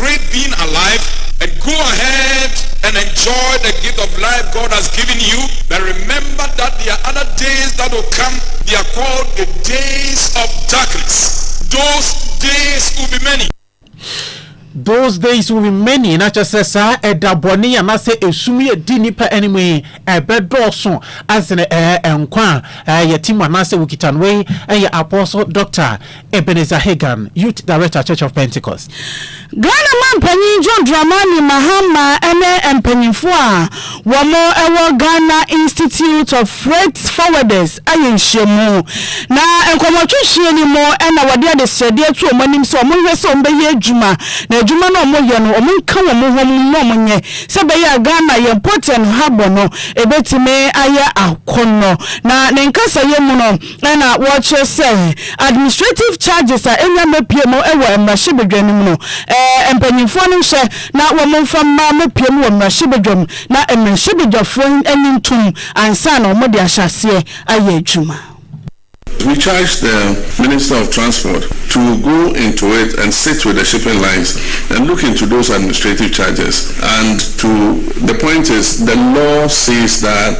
great being alive and go ahead and enjoy the gift of life God has given you but remember that there are other days that will come they are called the days of darkness those days will be many. Those days will be many na kyerɛ sɛ saa ɛda bɔne yi anaasɛ esum yi a ɛdi nnipa anim yi ɛbɛdɔɔso asene ɛɛ nkwa a ɛɛ yɛte mu anaasɛ wokita no wei ɛyɛ apostle doctor Ebenezer Hagan, Youth Director, Church of Pentecost. Ghana Mampanyin John Dramani Mahama ne mpanyimfo a wɔwɔ Ghana Institute of Freight Forwarders ayɛ nhyiamu, na nkɔmmɔtwetweɛ no mu na wɔde adesrɛdeɛ ato wɔn anim sɛ wɔnhwɛ sɛ wɔbɛyɛ adwuma, na adwuma no a wɔyɛ no, wɔnka wɔn ho mmom na wɔnyɛ, sɛ ɛbɛyɛ a Ghana, yɛn Port and Harbour no, ɛbɛtumi ayɛ akɔnnɔ. Na ne nkasayɛ mu no, na wɔkyerɛ sɛ administrative charges a enya mmepue mu wɔ mmarahyɛbadwa no mu no, mpanyimfoɔ no nhwɛ na wɔmfa mma mmepue mu wɔ mmarahyɛbadwa mu na mmarahyɛbadwafoɔ anyi ntom ansa na wɔde ahyɛ aseɛ ayɛ adwuma. We charge the Minister of Transport to go into it and sit with the shipping lines and look into those administrative charges and to the point is the law says that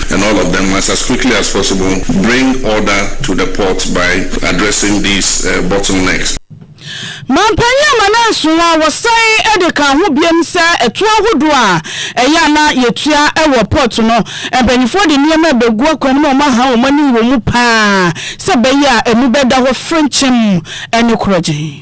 and all of them must as quickly as possible bring order to the port by addressing these bottlenecks. Mampanyin Amanansoɔ a wɔsan de kaa ho biom sɛ ɛtoɔ ahodoɔ a ɛyɛ a na yɛtua wɔ port no, mpaninfoɔ de nneɛma rebɛgu akwan mu a wɔaha wɔn ani wɔ mu pa ara sɛ ɛbɛyɛ a ɛmu bɛda hɔ frenkyemm ne korɔgyenn.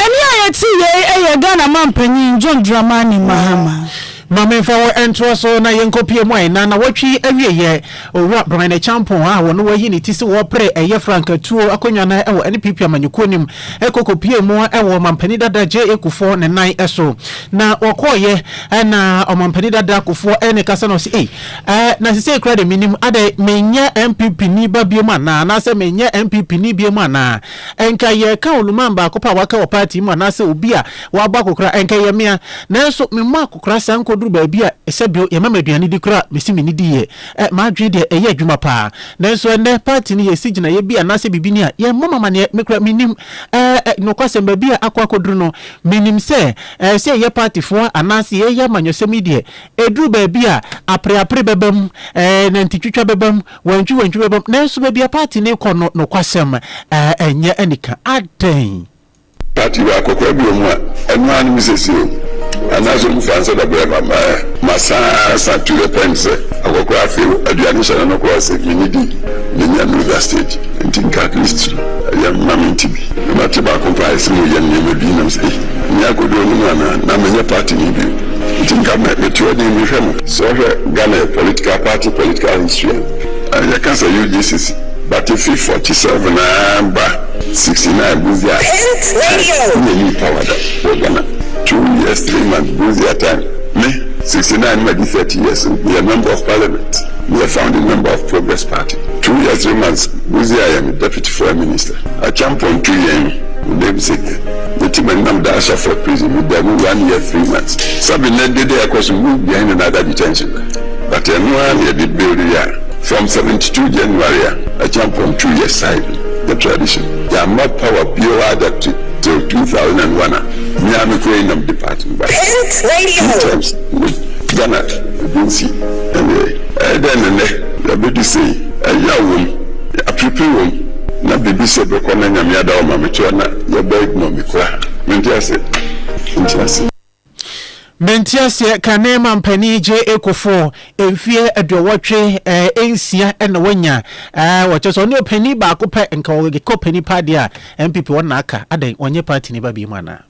Ɛnne a yɛte yei yɛ Ghana Mampanyin John Dramani Mahama. Ma memfa wo ntoa so na yɛnkɔpue mu. Ɛnna nnawɔtwe yi awieeɛ, Owura Brian Acheampong a wɔno wɔayi ne ti sɛ ɔrepere ɛyɛ Frank Atuo akonnwa no wɔ NPP amanyɔkuo no mu kɔ kɔpuee mu wɔ Ɔmampanin dada JA Kufuor ne nan so. Na ɔkɔeɛ na Ɔmampanin dada Kufuor ne no kasa na ɔse ei, eh, na sesei koraa deɛ mennim, adɛn, menyɛ NPP ni ba biom anaa, anaasɛ menyɛ NPP ni biom anaa? Nka yɛreka ɔnuman baako pɛ a waka wɔ party mu anaasɛ obi a wabɔ akokora, ɛnka ɛyɛ me a. Nanso memmɔ akokora saa nkodur baabi a sɛdeɛ yɛma me aduane di koraa mese menni di yɛ. Ɛ, m'adwene deɛ ɛyɛ adwuma pa ara. Nanso ɛnnɛ, party no yɛresi gyinaeɛ bi anaasɛ biribi ni a, yɛmmɔ me amaneɛ, me koraa mennim. Ɛ, ɛ, nokwasɛm, baabi a akɔ akɔduru no, mennim sɛ, ɛ, sɛ yɛyɛ partyfoɔ a anaasɛ yɛreyɛ amanyɔsɛm yi deɛ, ɛduru baabi a apereapere bɛba mu, ɛ, nantitwitwa bɛba mu, Wantwi wantwi bɛbam nanso baabi a party no rekɔ no nokwasɛm ɛnyɛ anika adɛn? Party wɔ akɔkora bi wɔ mu a ɛno ara ne me sɛsie o anaasɛ ɔmu fa nsa da brɛ ma ma ɛ ma saa sa to the point sɛ akɔkora afei o aduane hyɛ no no kora ɔse me ne di me nya no da stage nti nka at least yɛ ma me nti bi na ma te baako mpa ayɛ sɛ mo yɛ nneɛma bi nam sɛ ei me akodo no mu anaa na me nyɛ party no bi o nti nka me me to ɛden me hwɛ mo Sɛ wohwɛ Ghana yɛ political party political history a, yɛka sɛ UGCC but efi forty seven aa ba sixty nine Busia time nna yii power da wɔ Ghana. Two years three months Busia time ne sixty nine no madi thirty years no meyɛ member of parliament, meyɛ founding member of Progress party. Two years three months Busia yɛ me deputy foreign minister. Acheampong tu yɛn no, ne name sɛ. Mete ma nam da Asaford prison me da mu one year three months sabi na de dɛ ɛkɔ so move behind another detention but ɛno ara na yɛde build ya from seventy two January a Acheampong two yɛ side the tradition yɛamma power biara da till two thousand and one a me ara me kura yi nam depart me ba two times ne Ghana ebi nti ɛneɛ ɛyɛ dɛn ne nɛ yɛabɛdu sei ɛyaw wɔ mu. Aperepere wɔ mu na biribi sɛ bɛkɔ na nyame ada wo ma me toa na yɛbɛ ignore me koraa mente aseɛ mente aseɛ. Mente aseɛ kane mampanin gye kofo mfeɛ aduɔwɔtwe eh nsia na wanya eh ɔkyɛ sɛ ɔne ɔpanin baako pɛ nka ɔgekɔ ɔpanin paa deɛ a npp wɔn na aka adɛn ɔnyɛ party no ba biom anaa.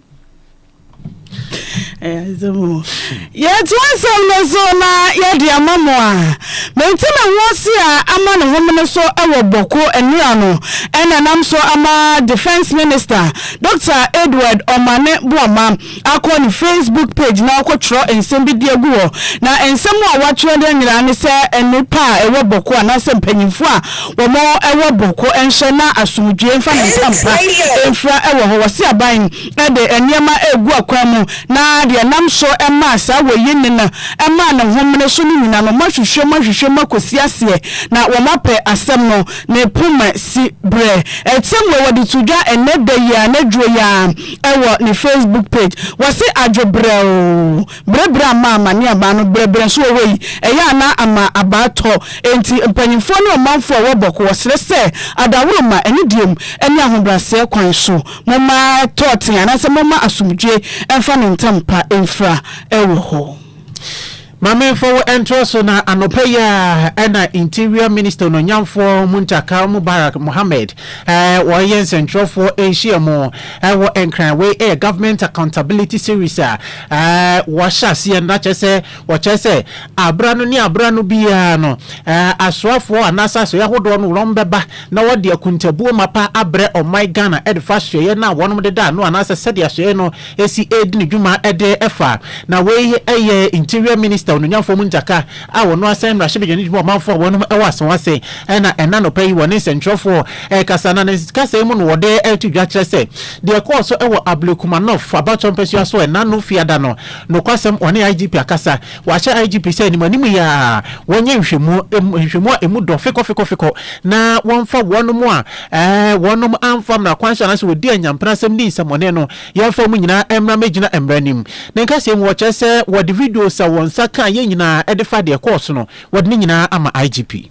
Yɛto asɛm no so na yɛde ama mo a menti me ho ase a ama ne homene so wɔ Bɔko nnora no na nam so ama Defence Minister Dɔkta Edward Omane Boamah akɔ ne Facebook page na wakɔtwerɛ nsɛm bi de agu hɔ na nsɛm a watwerɛ de nyinaa ne sɛ nnipa a ɛwɔ Bɔko anaasɛ mpanyimfoɔ a wɔn ɛwɔ Bɔko nhyɛ na asomdwoeɛ mfa ne ntampa mfira wɔ hɔ wɔse aban de nneɛma regu akwan mu, na deɛ ɛnam so maa saa wɔ yi ne no maa ne homene so no nyina no, moahwehwɛ mu ahwehwɛ mu akɔsi aseɛ, na wɔapɛ asɛm no, ne poma si berɛ. Ɛtɛm wei wɔde to dwa ɛnnɛ da yi ara, anadwoɔ yi ara, wɔ ne Facebook page. Wɔse adwo berɛ o, berɛ berɛ ama ama ne abaa no berɛ berɛ nso wɔ hɔ yi, ɛyɛ a na ama abaa tɔ. Enti mpanyimfoɔ ne ɔmanfoɔ a wɔwɔ Bɔko wɔsrɛ sɛ, adaworoma, anidie mu, ne ahobrɛaseɛ kwan so, Momma ɛtɔ tee anaasɛ momma asomdwoe mfa ne ntampa mfira wɔ hɔ. Maame mfa wo ntra so na anɔpa yi a na Interior Minister Onuonyamfoɔ Muntakar Mubarak Mohammed ɔreyɛ nsɛnkyerɛwfoɔ nhyiam wɔ Nkran. Wei yɛ Government Accountability Series a wɔahyɛ aseɛ no na kyerɛ sɛ Wɔkyerɛ sɛ aberano ne aberano biara no, asoafoɔ anaasɛ asoɛeɛ ahodoɔ no wɔbɛba na wɔde akuntabuo mapa abrɛ ɔman Ghana defa asoɛeɛ no a wɔnom de da ano anaasɛ sɛdeɛ asoɛeɛ no si redi ne dwuma de fa. Na wei yɛ Interior Minister Onunya Fomu Ndzaka a wɔno asɛn mmarahyɛbadwa no de ma ɔmanfoɔ a wɔnom wɔ asawase na ɛna nɔpa yi wɔne nsɛntwerɛfoɔ rekasa na ne kasa yi mu no wɔde reto dwa kyerɛ sɛ deɛ ɛkɔɔ so wɔ Abule Kumanov abatoɔ mpasua so ɛna no fiada no Nokwasɛm, Ɔne IGP akasa. Wahyɛ IGP sɛ animuanim yi ara wɔnyɛ nhwɛmu, nhwɛmu a emu dɔ fekɔfekɔfekɔ, na wɔmfa wɔnom a wɔnom amfa mmara kwan so anaasɛ wɔdi anyampnasɛm ne nsɛmmɔne no yɛmfa wɔn nyinaa mmra mmɛgyina mmara anim. Ne nkasɛɛ mu, wɔkyerɛ sɛ wɔde videos a wɔn nsa kaeɛ nyinaa de fa deɛ ɛkɔɔ so no, wɔde ne nyinaa ama IGP.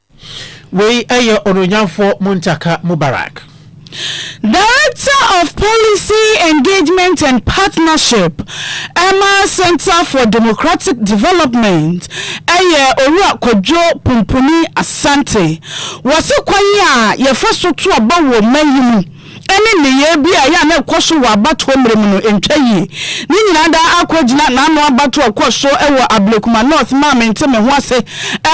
Wei yɛ Onuonyamfoɔ Muntaka Mubarak. Director of Policy Engagement and Partnership ma Centre for Democratic Development yɛ Owura Kwadwo Pumpuni Asante. Wɔse kwan a yɛfa so to aba wɔ mma yi mu ne nneyɛe bi a ɛyɛ a na ɛkɔ so wɔ abatoɔ mmerɛ mu no ntwa yie. Ne nyinaa daa akɔ agyina n'ano abatoɔ a ɛkɔɔ so wɔ Ablekuma North maa Mente Me Ho Ase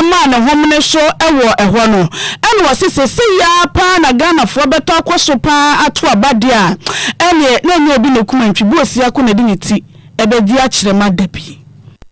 maa ne homene so wɔ ɛhɔ no. Ɛna ɔse seesei yi ara pa ara na Ghanafoɔ bɛtɔ akɔ so pa ara ato aba deɛ a, ɛneɛ na ɛnyɛ obi na ɛkum antwi, Boasiako na ɛde ne ti bɛdi akyerɛ ma da bi.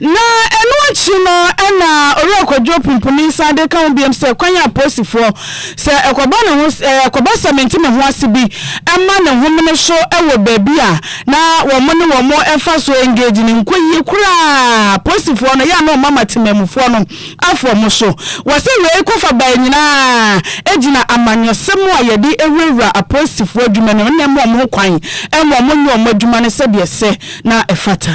Na ɛno akyi no na Owura Kwadwo Pumpuni san de ka ho biom sɛ kwan a apolisifoɔ, sɛ ɛkɔba ne ho sɛ ɛkɔba sɛ mente me ho ase bi ma ne homene so wɔ baabi a na wɔn ne wɔn ɛfa so engage no nkɔ yie koraa apolisifoɔ no yɛ a na wɔn ama temanmufoɔ no afo wɔn so. Wɔse wei kɔfa baeɛ nyinaa gyina amanyɔsɛm a yɛde wurawura apolisifoɔ adwuma no ne ɛmma wɔn ho kwan mma wɔn nyɛ wɔn adwuma no sɛdeɛ ɛsɛ na ɛfata.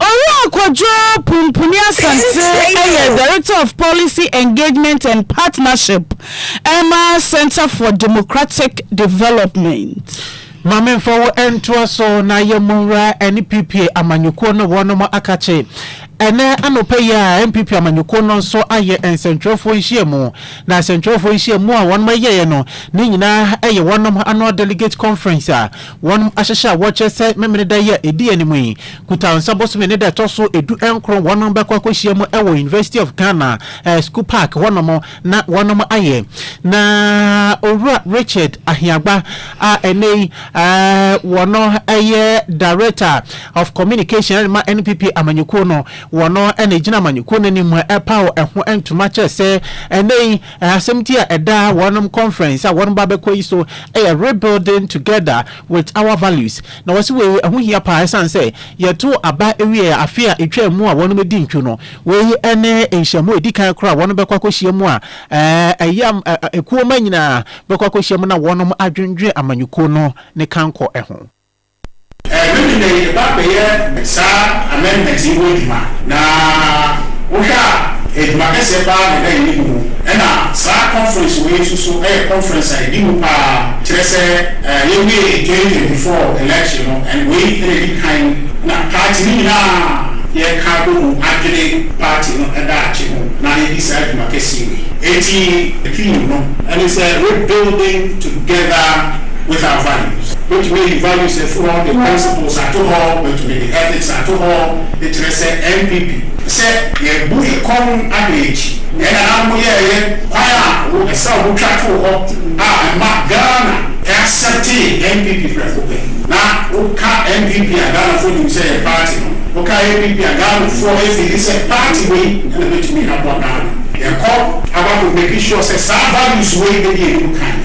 Owura Kwadwo Pumpuni Asante yɛ Director of Policy Engagement and Partnership ma Centre for Democratic Development. Ma memfa wo ntoa so na yɛmmɔ nwura NPP amanyɔkuo no wɔnom akakye. Ɛnɛ anɔpa yi a NPP amanyɔkuo no nso ayɛ nsɛntwerɛfoɔ nhyiamu, na nsɛntwerɛfoɔ nhyiamu a wɔnom yɛeɛ no ne nyinaa yɛ wɔnom annual delegate conference a Wɔnom ahyehyɛ a wɔkyerɛ sɛ Memeneda yi a ɛdi anim yi, Kutahnsa bosome ne da ɛtɔ so du nkron wɔnom bɛkɔ akɔhyia mu wɔ University of Ghana School Park hɔnom na wɔnom ayɛ na Owura Richard Ahiagba a ɛnnɛ yi wɔno yɛ Director of Communication de ma NPP amanyɔkuo no, wɔno na ɛgyina amanyɔkuo no anim ɛrepaw ɛho ntoma kyerɛ sɛ ɛnnɛ yi Asɛmti a ɛda wɔn conference a wɔreba abɛkɔ yi so yɛ Rebuilding Together With Our Values, na wɔse wei ɛho hia paa ɛsiane sɛ yɛtoo aba wiee afe a ɛtwaa mu a wɔadi ntwo no. Wei ne nhyiamu a ɛdi kan koraa a wɔbɛkɔ akɔhyia mu a ɛyɛ a kuo mma nyinaa bɛkɔ akɔhyia mu na wɔadwendwene amanyɔkuo no ne kankɔ ho. Ɛno nti na yɛba bɛyɛ saa amendment yi ho adwuma, na wohwɛ a adwuma kɛseɛ pa ara na ɛda yɛn anim o, ɛna saa conference wei nso so yɛ conference a ɛdi mu pa ara, kyerɛ sɛ yɛwiee twenty twenty four election no, and wei na ɛdi kan na party no nyina ara yɛka abɔ mu adwene party no daakye ho na yɛdi saa dwuma kɛseɛ wei. Enti theme no ne sɛ rebuilding together. with our values. Mɛtumi ayi values afi hɔ de principles ato hɔ, mɛtumi de ethics ato hɔ, de kyerɛ sɛ NPP. Sɛ yɛbu ekɔn ada akyi, nea yɛn nananom yɛɛ yɛ, kwan a wo, ɛsɛ wo twa too hɔ a ɛma Ghana acceptee NPP prɛko pɛ. Na wo ka NPP a Ghanafoɔ nim sɛ yɛ party no, wo ka APP a Ghanafoɔ ɛfeeli sɛ party wei na bɛtumi aboa Ghana. Yɛkɔ abakɔ make sure sɛ saa values wei bɛdi anim kan.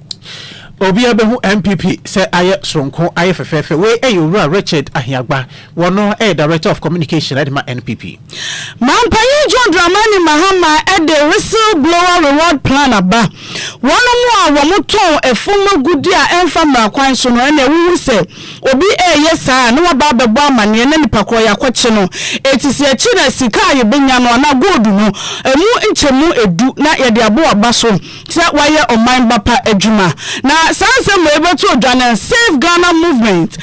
Obiara bɛhu NPP sɛ ayɛ soronko, ayɛ fɛfɛɛfɛ. Wei ɛyɛ Owura Richard Ahiagba, wɔno ɛyɛ Director of Communication ɛde ma NPP. Manpanyin John Dramani Mahama ɛde Whistle Blower Reward Plan aba. Wɔnom a wɔmo tɔn ɛfom agudie a ɛnfa mmara kwan so no ɛna ɛwuhu sɛ obi ɛɛyɛ saa a na waba abɛbɔ amaneɛ na nipa korɔ yakɔkye no eti sɛ yɛkye no a sika a yɛbɛnya no anaa gold no ɛmu nkyɛmu ɛdu na yɛde abɔ waba so sɛ wayɛ ɔman ba pa adwuma. Na saa nsɛm wei bɛto odwa no Save Ghana Movement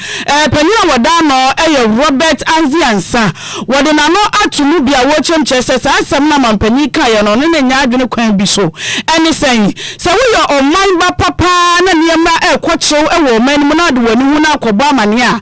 panyin a wɔda ano yɛ Robert Anzi Ansa wɔde n'ano ato mu bi a wɔrekyerɛ mu kyerɛ sɛ saa nsɛm no a mampanyin kaeɛ no ɔno na nya adwene kwan bi so ɛne sɛn sɛ woyɛ ɔman ba pa paa na nneɛma ɛrekɔ kyew wɔ ɔman no mu na wode w'ani hu na akɔbɔ amaneɛ a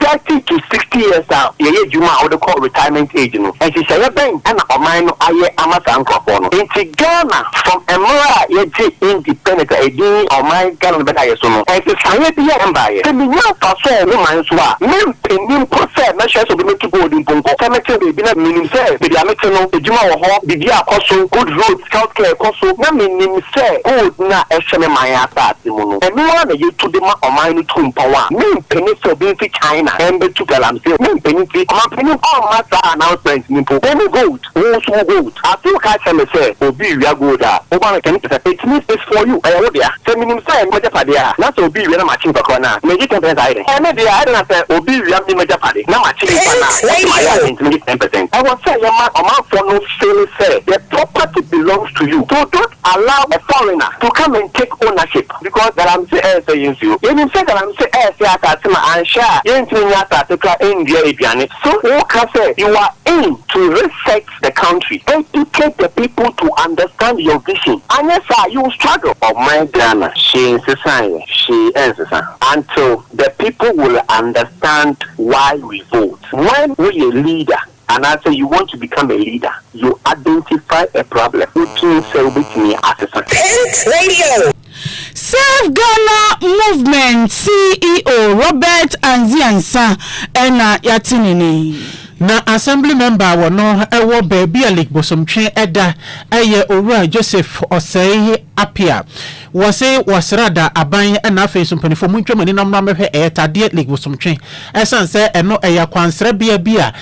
Thirty to sixty years a yɛyɛ adwuma a wode kɔ retirement age no, nhyehyɛeɛ bɛn na ɔman no ayɛ ama saa nkurɔfoɔ no? Nti Ghana from mmerɛ a yɛgye independent a ɛdin yi ɔman Ghana no bɛdaeɛ so no, nsesaeɛ biara mbaeɛ. Sɛ mennya mfasoɔ wɔ wo man so a, mempɛni mpo sɛ mɛhwɛ sɛ obi mɛtu gold mpo nkɔ. Sɛ mete baabi na menim sɛ baabi a mete no adwuma wɔ hɔ, biribi akɔ so, good roads, health care kɔ so, na menim sɛ gold no a ɛhyɛ me man asase mu no, Ɛno ara na yɛtu de ma ɔman no tu mpɔn a mempene sɛ obi mfi China mmɛtu Galamsey. Mempene nti ɔmanpanin ɔmma saa announcement no mpo. Mene gold, wo nso wo gold. Afei woka kyerɛ me sɛ obi rewia gold a, woba no ten percent. It means it's for you, ɛyɛ wo dea. Sɛ menim sɛ ɛnyɛ m'agyapadeɛ a, na sɛ obi rewia na makye nipa koro no a, megye ten percent ayɛ dɛn? Ɛyɛ me dea, ɛnde na sɛ obi rewia me m'agyapade na makye nipa no a, wose mayɛ a dɛn nti megye ten percent? Ɛwɔ sɛ yɛma ɔmanfoɔ no feele sɛ the property belongs to you. So don't Allow a foreigner to come and take ownership because galamsey ɛresɛ yɛn nsuo. Yɛnim sɛ galamsey ɛresɛ asase ma anhwɛ a yɛntumi nyɛ asase koraa nnua aduane. So woka sɛ you are in to reset the country, educate the people to understand your vision anyɛ saa you will struggle. Ɔman Ghana hwee nsesaeɛ, hwee ɛnsesa until the people will understand why we vote. When woyɛ leader. Anaasɛ you want to become a leader, you identify a problem, wodwene sɛ wobɛtumi asesa. Pent Radio. Save Ghana Movement CEO Robert Anzi Ansah na yɛate ne nne. Na Assembly member a wɔno wɔ baabi a Lake Bosomtwe da yɛ Owura Joseph Osei Apia. Wɔ se wɔ srada aban ɛna afei nso mpaninfoɔ montwa mo ani na mmra mmɛhwɛ ɛyɛ tadeɛ Lake Bosomtwe ɛsan sɛ ɛno ɛyɛ kwansra bea bi a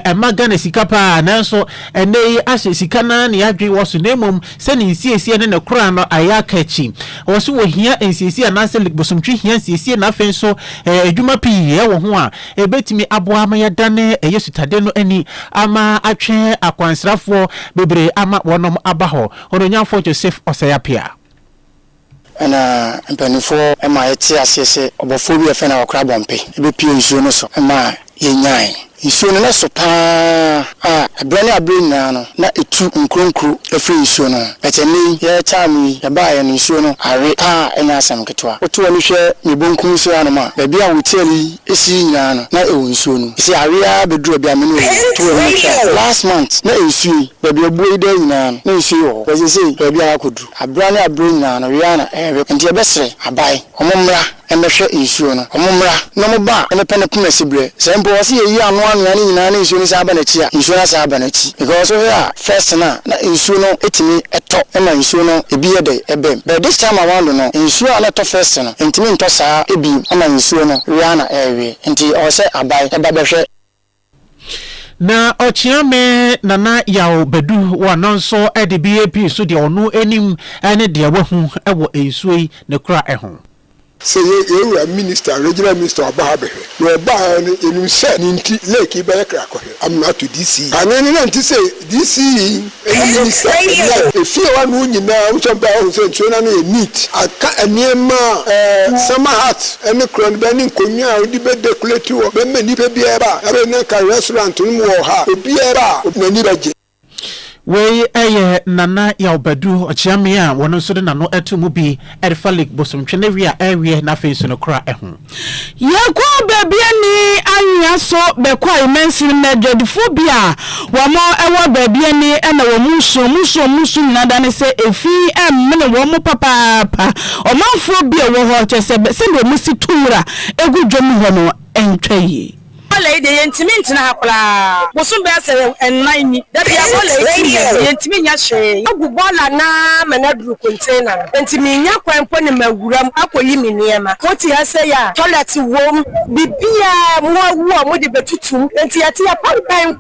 ɛma Ghana sika paa nanso ɛnɛ yi ahyɛ sika naa ne adwen wɔ so na mmom sɛ ne nsiesie ne ne kora no ayɛ aka akyi wɔ so wɔ hia nsiesie anaa sɛ Lake Bosomtwe hia nsiesie na afei nso ɛyɛ adwuma pii ɛwɔ ho a ɛbɛtumi aboa ama yɛadane ɛyɛ sutadeɛ no ani ama atwe akwansrafoɔ bebree ama wɔnom aba hɔ. Onuonyamfo Joseph Osei Apiah. Ɛnna mpanimfoɔ maa yɛtee aseɛ sɛ ɔbɔfoɔ bi a wɔfrɛ no Awɔkora Bɔmpe bɛpuee nsuo no so ma yɛnyaeɛ. Nsuo no na ɛso pa ara a berɛ ne aberɛ nyinaa no, na ɛtu nkuronkuro firi nsuo no ho. But ɛnnɛ yi, yɛretaa mu yi, yɛbaeɛ no, nsuo no awe pa ara a ɛnyɛ asɛm ketewa. Woto w'ani hwɛ me bonkum so hanom a, baabi a hotɛl yi Esii nyinaa no na ɛwɔ nsuo no ɛsɛ awe aa bɛduru abia me ne oyi to amu tra last month na nsuo yi baabi abuo yi daa nyinaa no na nsuo yi wɔ hɔ but sesei baabi aa akɔduru abira ne abira nyinaa no we aa na ɛɛwe nti yɛbɛ srɛ aban ɔmo mmra ɛmɛ hwɛ nsuo no ɔmo mmra na ɔmo ba a ɛmɛ pɛ ne poma sibrɛ sɛ mpo ɔse yɛyi ano anwea ne nyinaa ne nsuo no san aba nakyi a nsuo no asan aba nakyi because wohwɛ a first no a na nsuo no tumi tɔ ma nsuo no ebi yɛ dɛ ɛbam but this time around no nsuo a na ɛtɔ first no ntumi ntɔ saa biom ama nsuo no we ara na ɛrewe nti ɔwɔ sɛ abae ɛba bɛhwɛ. Na ɔkyea me Nana Yaw Badu wɔ no nso de bi pii so deɛ ɔno nim ne deɛ wahu wɔ nsuo yi ne kora ho. Sɛ yɛ yɛn wura minister, regional minister ɔba ha bɛhwɛ, na ɔbaeɛ no yɛnim sɛ ne nti lake yi bɛyɛ kra kɔhwɛ amena ato DC yi kane no na nti sɛ DC yi ne minister ɛdeɛ a ɛfie hɔ ano nyinaa wohu sɛ ɔbaeɛ ɔhu sɛ nsuo no ano yɛ neat aka nneɛma a ɛɛ summer hat ɛne korɔ no bɛ ne nkonnwa a wode bɛ decorate hɔ bɛma nnipa biara ba a ɛbɛyɛ na nka restaurant no mu wɔ ha a obiara ba a n'ani bɛgye. Wei yɛ Nana Yaw Badu Ɔkyeame a ɔno nso de n'ano to mu bi de fa Lake Bosomtwe no awi a ɛreweɛ na afei nso no kora ho. Yɛkɔɔ baabi a ni anwea so bɛkɔe mansini mu adwadifo bi a wɔn wɔ baabi a ni na wɔn su wɔn su wɔn su nyinaa dane sɛ efi mmene wɔn papaapa ɔmanfoɔ bi a ɛwɔ hɔ kyerɛ sɛ sɛdeɛ wɔsi tu nwura gu dwom hɔ no ntwa yie. Bɔɔla yi deɛ yɛntumi ntena ha koraa, bosom bɛyɛ sɛ nnan ni, da biara bɔɔla yi tu yɛn, yɛntumi nyɛ hwee. Yɛagu bɔɔla no ara ma no aduru container no, enti mennya kwan mpo ne mawuram akɔyi me nneɛma. Mote ha sei a, toilet wom, biribiara, mmoa awu a wɔde bɛtutum, enti yɛte ha pampɛn.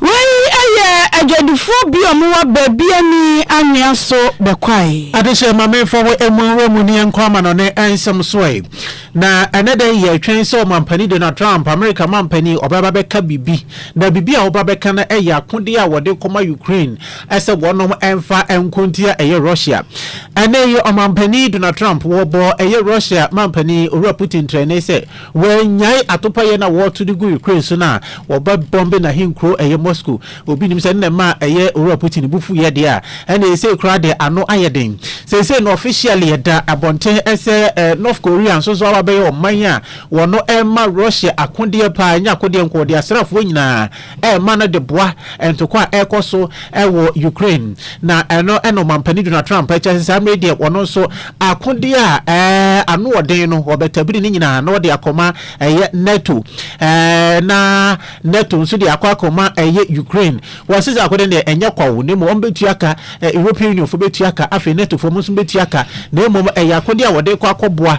Wei yɛ adwadifoɔ bi ɔmo wɔ baabi ani anwea so bɛkwae. Adehyeɛ ma me fa wo ɛmu nwura mu ne ɛnkɔ amanɔne ɛnsɛm so ɛ. Na ɛnɛ dɛ yɛ twɛn sɛ ɔmampani Donald Trump, Amerika mampani, ɔbɛ ba bɛ ka bibi. Na bibi a ɔba bɛ ka no ɛyɛ akodeɛ a wɔde kɔ ma Ukraine ɛsɛ wɔnom ɛnfa ɛnko ntia ɛyɛ Russia. Ɛnɛ yi ɔmampani Donald Trump wɔ bɔ ɛyɛ Russia mampani Owura Putin trɛnee sɛ, Wɔannyae atopayɛ na wɔreto de gu Ukraine so no a, wɔbɛbɔmbe n'ahenkurow ɛyɛ Moscow. Obi nim sɛ ɛno na ɛma ɛyɛ Owura Putin bo fuiɛ deɛ a, ɛna ɛsei koraa deɛ ano ayɛ den. Seisei no officially ɛda abɔnten sɛ North Korea nso so abɛyɛ ɔman a wɔno ɛrema Russia akodeɛ paa, ɛnyɛ akodeɛ nko, ɔde asraafoɔ nyinaa rema no de boa ntoko a ɛrekɔ so wɔ Ukraine, na ɛno na Ɔmampanin Donald Trump kyerɛ sɛ saa mmere deɛ wɔn nso akode a anoɔden no wɔbɛtabiri ne nyinaa na wɔde akɔma ɛyɛ NATO na NATO nso de akɔ akɔma ɛyɛ Ukraine. Wɔsi sɛ akode deɛ ɛnyɛ kwawo na mmom wɔbɛtua ka, European Union fo bɛtua ka, afei NATO fo nso bɛtua ka na mmom ɛyɛ akode a wɔde kɔ akɔboa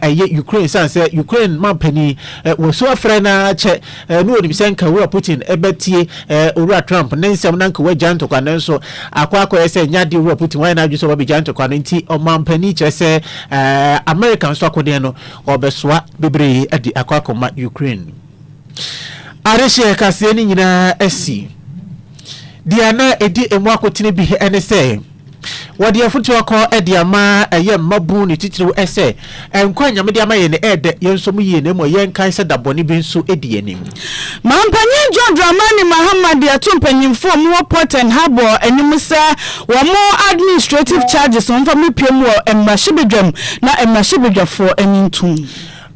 ɛyɛ Ukraine san sɛ Ukraine mampanin wɔsu afrɛ na kyɛ Eh, na onim sɛ nka Owura Putin bɛtie eh, Owura Trump ne nsɛm na nka wagya ntɔkwa no nso akɔ akɔyɛ sɛ nyɛ adeɛ Owura Putin wayɛ n'adwene sɛ ɔbɛbɛgya ntɔkwa no nti ɔmampanin kyerɛ sɛ eh, America nso akodeɛ no ɔbɛsoa bebree de akɔ akɔma Ukraine. Adehyeɛ kaseɛ no nyinaa asi deɛ na ɛdi emu akotene bi ne sɛ Wɔde afotu akɔ de ama ɛyɛ mmabun ne titiriw sɛ, Nkwa a Nyame de ama yɛn no yɛ dɛ, yɛnsɔ mu yiye na mmom yɛnkae sɛ da bɔne bi nso di yɛn anim. Mampanyin John Dramani Mahama de ato mpanyimfo a wɔn wɔ Port and Harbour anim sɛ wɔn administrative charges wɔmfa mmepue mu wɔ mmarahyɛbadwam na mmarahyɛbadwafo ani ntum.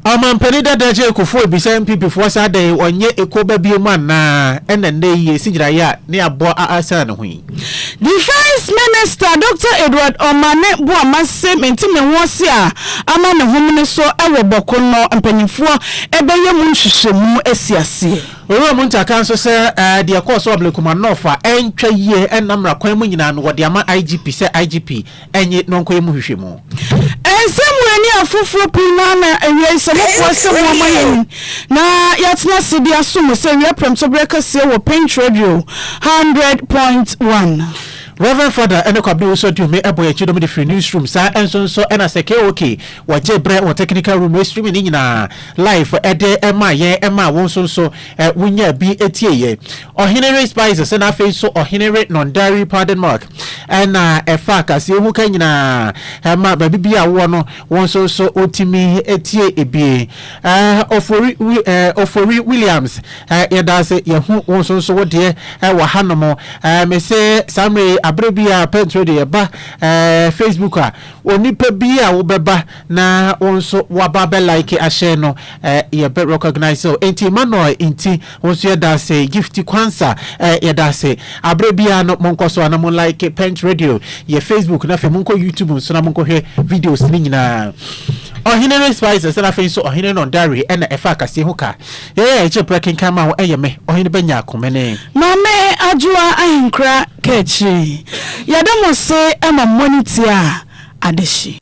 Ɔmampanin dada Jay Kufuor bisa NPPfoɔ sɛ adɛn ɔnyɛ ekuo ba biom anaa ɛna nnɛ yi yɛsi gyinaeɛ a ne aboa a asan ne ho yi. Defence Minister Doctor Edward Omane Boamah se mente me ho ase a ama ne homene so wɔ bɔko no mpaninfoɔ bɛyɛ mu nhwehwɛmu asi aseɛ. Owura Muntah ka nso sɛ deɛ ɛkɔɔ so wɔ Ablekuma North a ɛntwa yie ɛnna mmra kwan mu nyinaa no wɔde ama IGP sɛ IGP nye nɔnkɔyɛ mu nhwehwɛmu. Ɛnsɛ mo ani afoforo pii na na awiei sɛ mobua sɛ moama yɛn na yɛatena ase de asom mo sɛ wia prɛmtoberɛ kɛseɛ wɔ Paint Radio 100.1. Rev. Father ɛne Kwabena Owusu Aduome ɛbɔ yɛn kyidɔm de firi newsroom saa nso nso ɛna sɛ KOK wɔgye berɛ wɔ technical room wɔ streaming ne nyinaa live ɛde ɛmaa yɛn ɛmaa wo nso nso wonyaa bi ɛtieeɛ Ɔhene Re Spices ɛna afei nso Ɔhene Re Nondari Pardon Mark. Ɛna ɛfa kaseɛ ho ka nyinaa. Ɛma baabi bi a wowɔ no, wo nso so wotumi tie ebi. Eh, Ofori, eh, Ofori Williams, eh, yɛda ase yɛhu wo nso so wo deɛ eh, wɔ hanom. Eh, me se saa mmerɛ yi, aberɛ bi a pɛnturo de yɛba eh, Facebook a, onipa bi a wobɛba na wo nso waba bɛ like ahyɛ no, eh, yɛbɛ recognize o. Enti Emmanuel nti Mo nso yɛda ase. Gifty Quansah eh yɛda ase. Aberɛ biara no monkɔ so a na mo like Pench Radio yɛ Facebook na afei monkɔ YouTube nso na monkɔhwɛ videos no nyinaa. Ɔhene Ray Spices na afei nso Ɔhene Nor Diary ɛna ɛfa akasie ho ka. Yɛyɛ a yɛgye berɛ kenkan ma wo ɛyɛ me, Ɔhene Bɛnya Akomene. Maame Adwoa Ahenkura ka akyire yi. Yɛda mo ase ma mo ani tia adehye.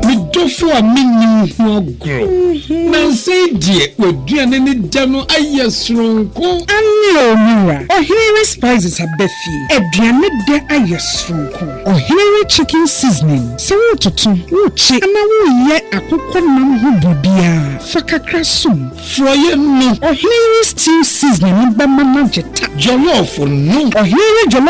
Me dɔfo a minni wo ho agorɔ. Nnansa yi deɛ, w'aduane ne dɛ no ayɛ soronko. Aane o, me wura. Ɔhene re spices aba fie. Aduane dɛ ayɛ soronko. Ɔhene re chicken seasoning. Sɛ woretoto, worekye anaa woreyɛ akokɔ nam ho biribiara, fa kakra som. Forɔeɛ no. Ɔhene re stew seasoning no bɛma no agye ta. Jollof no. Ɔhene re jollof